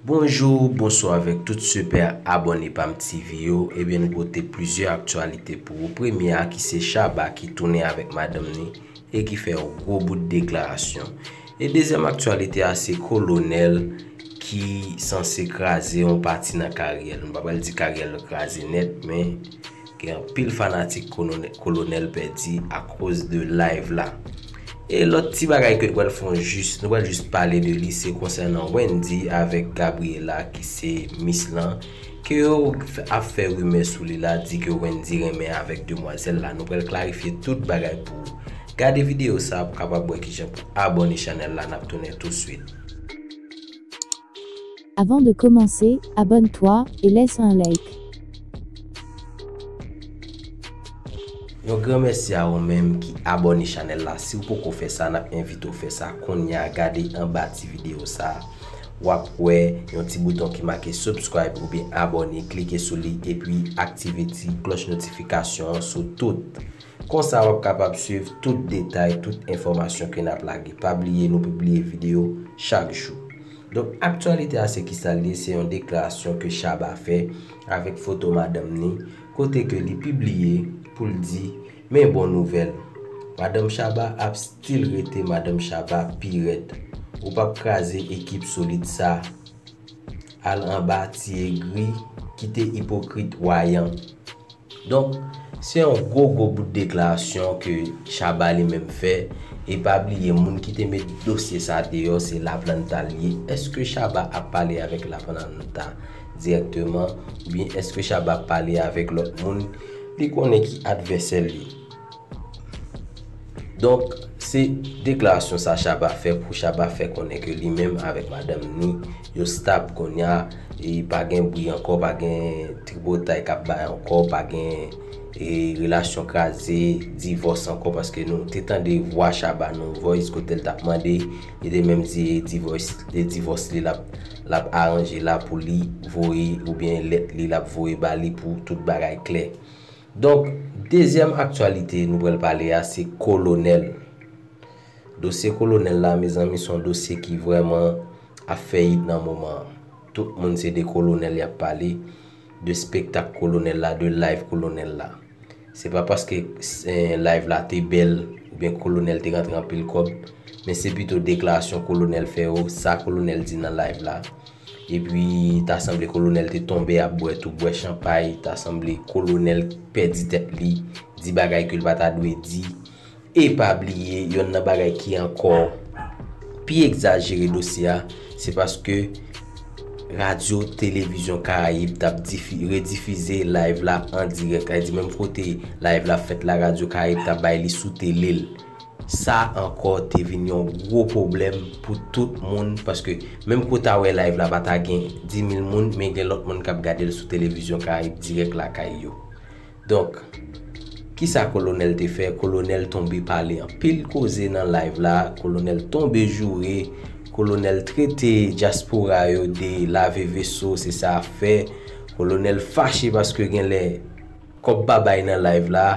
Bonjour, bonsoir avèk tout sipè abòne pam TV yo Ebyen nou pote plizyè aktyalite pou ou Premye a ki se Shabba ki tounen avèk madanm ni e ki fè yon gwo bout deklarasyon E dezyèm aktyalite a se kolonèl ki sanse kraze yon pati nan karyè l. M pa pral di karyè l kraze nèt men gen anpil fanatik kolonèl pèdi akoz de live la. E lòt ti bagay ke nou pral fon jis, nou pral jis pale de li se konsènan Wendy avèk Gabriella ki se Miss lan ke yo ap fè rimè sou li la di ke Wendy renmen avèk demwazèl la. Nou pral klarifye tout bagay pou ou. Gade video sa pou kapab wè kijan pou abone chanèl la nap tounen tou swit. Avant de commencer, abonne toi et laisse un like. Yon gran mèsi a ou menm ki abone chanèl la siw poko fè sa nap envite w fè sa kounya gade anba ti video sa wap wè yon ti bouton ki make subscribe oubyen abone klike sou li epi aktive ti klòch notifikasyon an sou tout Konsa wap kapab swiv tout detay tout enfòmasyon ke nap lage. Pa bliye nou pibliye video chak jou. Donk aktyalite a se kisa l ye se yon deklarasyon ke Shabba fè avèk foto madanm ni kote ke li pibliye pou l di men bon nouvèl Madanm Shabba ap still rete Madanm Shabba pi rèd ou pap kraze ekip solid sa al anba ti egri kite ipokrit wayan. Donk, se yon gwo gwo bout deklarasyon ke Shabba li menm fè, e pa bliye moun ki te met dosye sa deyò se Laplanta li ye, eske Shabba ap pale avèk Laplanta dirèkteman, oubyen eske Shabba ap pale avèk lòt moun li konnen ki advèsè l yo? Donk, se deklarasyon sa Shabba fè pou Shabba fè konnen ke li menm avèk madanm ni yo stab kounya e pa gen bri ankò, pa gen tripotay k ap bay ankò, pa gen relasyon kraze, divòs ankò paske nou te tande vwa Shabba nan yon voice kote l t ap mande, li te menm di e divòs li l ap aranje la pou li voye oubyen lèt li l ap voye ba li pou tout bagay klè. Donk, dezyèm aktyalite nou pral pale a se Kolonèl. Dosye Kolonèl la mezanmi son dosye ki vrèman ap fè it nan moman an. Tout moun se de Kolonèl yap pale, de spektak Kolonèl la, de live Kolonèl la. Se pa paske live la te bèl oubyen Kolonèl te rantre anpil kòb, men se pito deklarasyon Kolonèl fè yo, sa Kolonèl di nan live la. Epi ta sanble kolonèl te tonbe ap bwè tou bwè chanpay, ta sanble kolonèl pèdi tèt li, di bagay ke l pa ta dwe di. E pa bliye, yonn nan bagay ki ankò pi egzajere dosye a, se paske Radyo Televizyon Karayib tap difi, redifize live la an dirèk. Sa vle di menm kote live la fèt la, Radyo Karayib ta bay li sou tele l. Sa ankò te vin yon gwo pwoblèm pou tout moun paske menm ke w ta wè live la pa ta gen 10,000 moun men gen lòt moun k ap gade l sou televizyon Karayib dirèk lakay yo. Donk, kisa Kolonèl te fè? Kolonèl tonbe pale anpil koze nan live la, Kolonèl tonbe joure, Kolonèl trete dyaspora yo de lave veso, se sa ap fè, Kolonèl fache paske genlè kòb pa bay nan live la.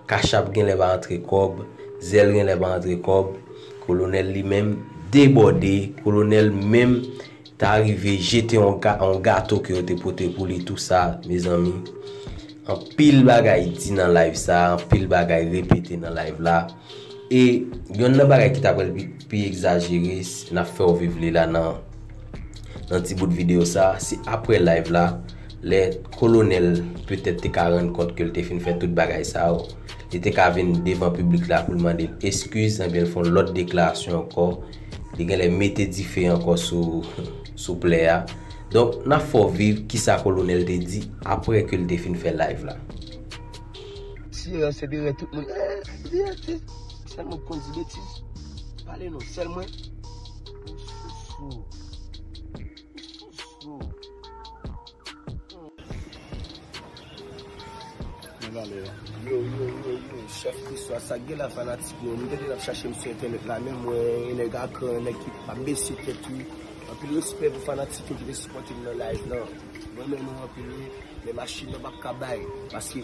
Kachap genlè pa antre kòb, zèl genlè pa antre kòb, kolonèl li menm debòde, kolonèl menm ta rive jete yon gato ke yo te pote pou li tou sa mezanmi anpil bagay di nan live sa, anpil bagay repete nan live la e yonn nan bagay ki ta pral pi. pi egzajere nap fèw viv li la nan nan ti bout video sa se aprè live la lè kolonèl petèt te ka rann kont ke l te fin fè tout bagay sa yo li te ka vin devan piblik la pou l mande l eskiz ebyen l fon lòt deklarasyon ankò li genlè mete dife ankò sou sou plè a donk nap fèw viv kisa kolonèl te di aprè ke l te fin fè live la. Sirens se dèyè tout moun eeh Vérité. Sèl mwen ki konn di betiz. Pale non, sèl mwen? Ou sousou. Ou sousou. Mwen vale yo. Yo, yo, yo, yo. Chef Christophe, sa gen la fanatik yo. Mwen te di nan chache m sou entènèt la men mwen yon nèg akran, yon nèg ki pa bese tèt li. Anpil respè pou fanatik yo ki te sipòte m nan live lan. Mwen renmen nou anpil wi. Men machin nan pap ka bay. Paske.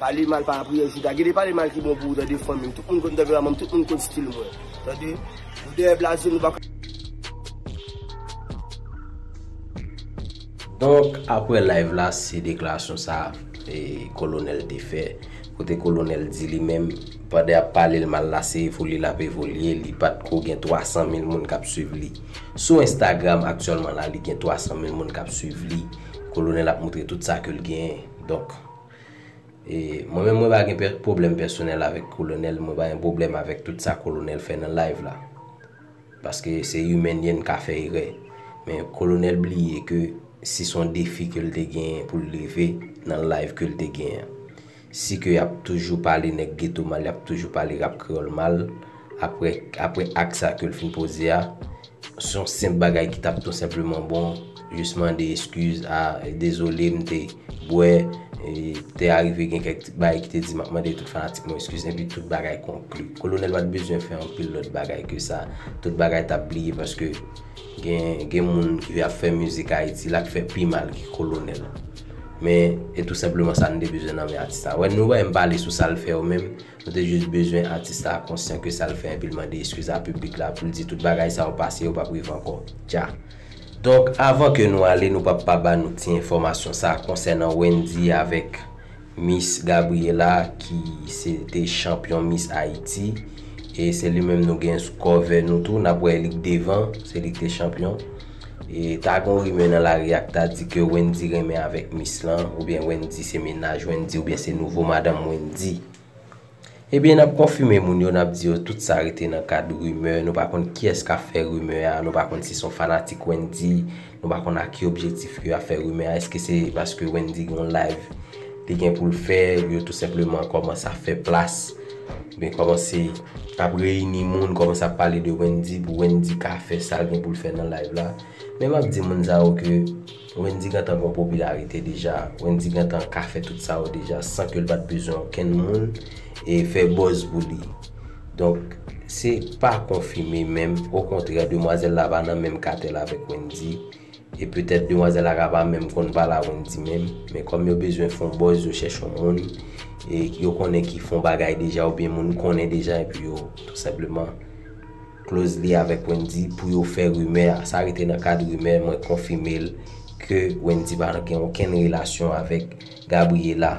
Pale mal pa apriyè jouda gede pale mal ki bon pou ou tande fanmim tout moun konn tanperamanm tout moun konn stil mwen tande nou dèyè blaze nou pa ka. Donk aprè live la se deklarasyon sa kolonèl te fè kote kolonèl di li menm pandan yap palel mal la se evolye lap evolye li pat ko gen 300 mil moun kap swiv li sou instagram aktyèlman la li gen 300 mil moun kap swiv li kolonèl ap moutre tout sa kel gen donk Mwen menm mwen pa gen pwoblèm pèsonèl avèk kolonèl, mwen pa gen pwoblèm avèk tout sa kolonèl fè nan live la. Paske se imèn ye n ka fè erè. Men kolonèl bliye ke si son defi ke l te genyen pou l leve nan live ke l te genyen. Si ke y ap toujou pale nèg geto mal, y ap toujou pale rap kreyòl mal. Apre, apre ak sa ke l fin poze a, se yon senp bagay ki t ap tou senpleman bon, jis mande eskiz, a, dezole m te bwè, e, te arive gen kèk ti bagay ki te di m ap mande tout fanatik mwen eskiz, enpi tout bagay konkli. Kolonèl pa t bezwen fè anpil lòt bagay ke sa, tout bagay t ap bliye paske gen, gen moun ki ap fè mizik Ayiti la k fè pi mal ke Kolonèl. Men, e tou senpleman sa n te bezwen nan men atis la. Wè, nou wè m pale sou sa l fè yo menm. Nou te jis bezwen atis la konsyan ke sa l fè epi l mande eskiz a piblik la pou l di tout bagay sa yo pase yo pap rive ankò. Dja. Donk avan ke nou ale nou pap pa ba nou ti enfòmasyon sa konsènan Wendy avèk Miss Gabriela ki se te chanpyon Miss Haïti e se li menm nou gen sou kòve nou tou nap wè li k devan se li k te chanpyon. E ta gon rimè nan lari a ki ta di ke Wendy renmen avèk Miss lan, oubyen Wendy se mennaj Wendy oubyen se nouvo madanm Wendy. Ebyen nap konfime moun yo nap di yo tout sa rete nan kad rimè, nou pa konn kiyès kap fè rimè a, nou pa konn si son fanatik Wendy, nou pa konn ak ki objetif ke yap fè rimè a, eske se paske Wendy gon live li gen poul fè, yo tou senpleman kòmanse ap fè plas. Mwen komanse ap reyini moun, komanse ap pale de Wendy pou Wendy ka fè sa l gen pou l fè nan live la. Men map di moun sa yo ke Wendy gentan gon popilarite deja. Wendy gentan ka fè tout sa yo deja san ke l pat bezwen okenn moun e fè buzz pou li. Donk se pa konfime menm, okontrè demwazèl la pa nan menm katèl avèk Wendy. E petèt demwazèl ak a pa menm konn pale a Wendy menm, men kòm yo bezwen fon buzz yo chèche yon moun e yo konnen ki fon bagay deja oubyen moun konnen deja epi yo tou senpleman close li avèk Wendy pou yo fè rimè a. Sa rete nan kad rimè, mwen konfime l ke Wendy pa gen okenn relasyon avèk Gabriela.